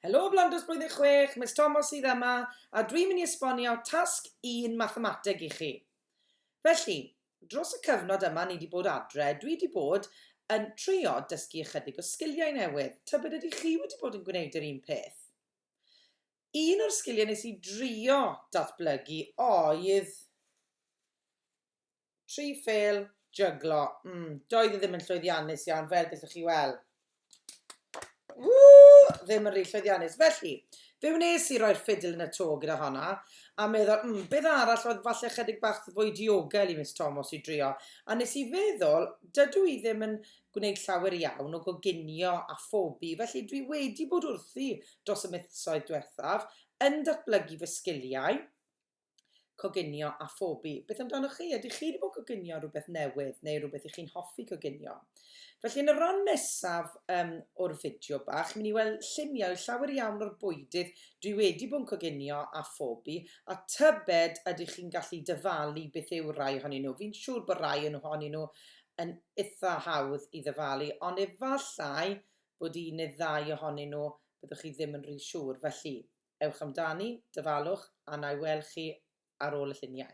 Helo Blandos Blwyddyn Chwech, Miss Tomos sydd yma, a dwi'n mynd i esbonio tasg un mathemateg i chi. Felly, dros y cyfnod yma ni wedi bod adre, dwi wedi bod yn trio dysgu ychydig o sgiliau newydd. Tybed ydy chi wedi bod yn gwneud yr un peth? Un o'r sgiliau nes i drio datblygu oedd Tri phêl jyglo. Mm, doedd e ddim yn llwyddiannus iawn, fel gallwch chi weld. Ww, ddim yn rhy llwyddiannus. Felly, fe wnes i roi'r ffidl yn y to gyda honna, a meddwl, mm, beth arall oedd falle chydig bach fwy diogel i Miss Tomos i drio. A nes i feddwl, dydw i ddim yn gwneud llawer iawn o goginio a phobi, felly dwi wedi bod wrthi dros y mythsoedd diwethaf, yn datblygu fy sgiliau, coginio a phobi. Beth amdanoch chi? Ydych chi wedi bod yn coginio rhywbeth newydd neu rhywbeth i chi'n hoffi coginio? Felly yn y ran nesaf um, o'r fideo bach, chi'n mynd i weld lluniau llawer iawn o'r bwydydd dwi wedi bod yn coginio a phobi, a tybed ydych chi'n gallu dyfalu beth yw rai ohonyn nhw. Fi'n siŵr bod rai yn ohonyn nhw yn eitha hawdd i ddyfalu, ond efallai bod un neu ddau ohonyn nhw byddwch chi ddim yn rhy siŵr. Felly, Ewch amdani, dyfalwch, a na i weld chi ar ôl y lluniau.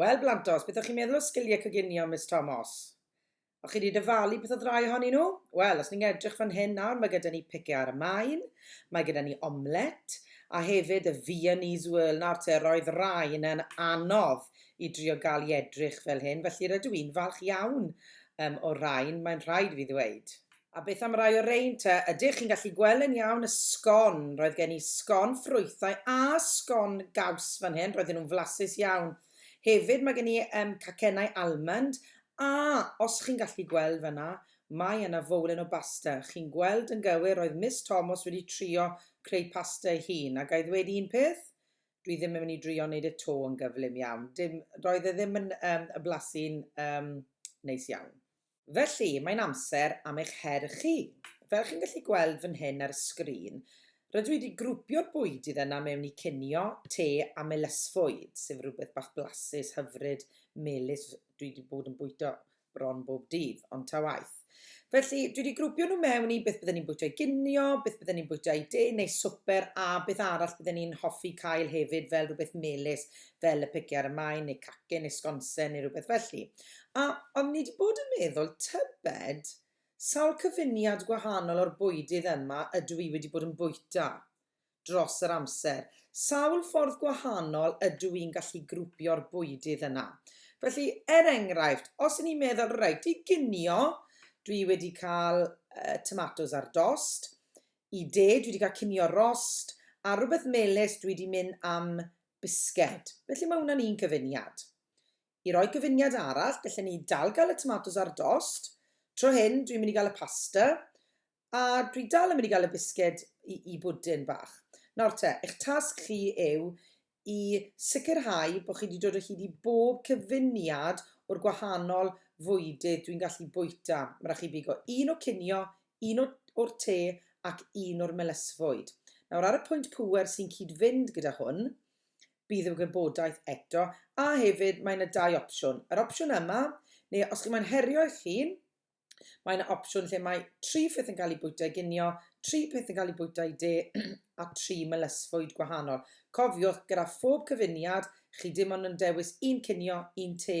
Wel, Blantos, beth o'ch chi'n meddwl o sgiliau coginio Miss Tomos? O, chi wedi dyfalu peth o ddrai ohonyn nhw? Wel, os ni'n edrych fan hyn nawr, mae gyda ni pice ar y maen, mae gyda ni omlet, a hefyd y Viennese whirl. Nawr te, roedd rai yn anodd i drio gael i edrych fel hyn, felly rydw i'n falch iawn um, o rain, mae'n rhaid fi ddweud. A beth am rai o rein te? Ydych chi'n gallu gweld yn iawn y sgon? Roedd gen i sgon ffrwythau a sgon gaws fan hyn, roedden nhw'n flasus iawn. Hefyd mae gen i yym cacennau almond, a os chi'n gallu gweld fan'na, mae yna fowlen o basta. Chi'n gweld yn gywir, roedd Miss Tomos wedi trio creu pasta ei hun, a ga i ddweud un peth? Dwi ddim yn mynd i drio wneud e 'to yn gyflym iawn. Dim, roedd e ddim yn yym yn blasu'n yym neis iawn. Felly, mae'n amser am eich her chi. Fel chi'n gallu gweld fan hyn ar y sgrin, rydw i wedi grwpio'r bwydydd yna mewn i cinio, te a melysfwyd, sef rhywbeth bach blasus, hyfryd, melys, dwi wedi bod yn bwyta bron bob dydd, ond ta waeth. Felly, dwi wedi grwpio nhw mewn i beth bydden ni'n bwyta i ginio, beth bydden ni'n bwyta i de neu swper a beth arall bydden ni'n hoffi cael hefyd fel rhywbeth melys. fel y pigiau ar y maen neu cacen neu sgonsen neu rhywbeth felly. A oeddwn ni wedi bod yn meddwl, tybed, sawl cyfuniad gwahanol o'r bwydydd yma ydw i wedi bod yn bwyta dros yr amser? Sawl ffordd gwahanol ydw i'n gallu grwpio'r bwydydd yna? Felly, er enghraifft, os y'n ni'n meddwl, reit, i ginio, dwi wedi cael uh, tomatos ar dost, i de, dwi wedi cael cinio rost, a rhywbeth melus dwi wedi mynd am bisged. Felly mae hwnna'n un cyfuniad. I roi cyfuniad arall, gallwn ni dal gael y tomatos ar dost. Tro hyn, dwi'n mynd i gael y pasta, a dwi dal yn mynd i gael y bisged i, i bwdyn bach. Nawr te, eich tasg chi yw i sicrhau bod chi wedi dod o hyd i bob cyfuniad o'r gwahanol fwydydd dwi'n gallu bwyta. Mae rhaid chi bigo un o cinio, un o'r te ac un o'r melysfwyd. Nawr, ar y pwynt pŵer sy'n cyd-fynd gyda hwn, bydd y wybodaeth eto, a hefyd mae yna dau opsiwn. Yr opsiwn yma, neu os chi'n moyn herio eich hun, mae yna opsiwn lle mae tri pheth yn cael eu bwyta i ginio, tri pheth yn cael eu bwyta i de, a tri melysfwyd gwahanol. Cofiwch, gyda phob cyfuniad, chi dim ond yn dewis un cinio, un te,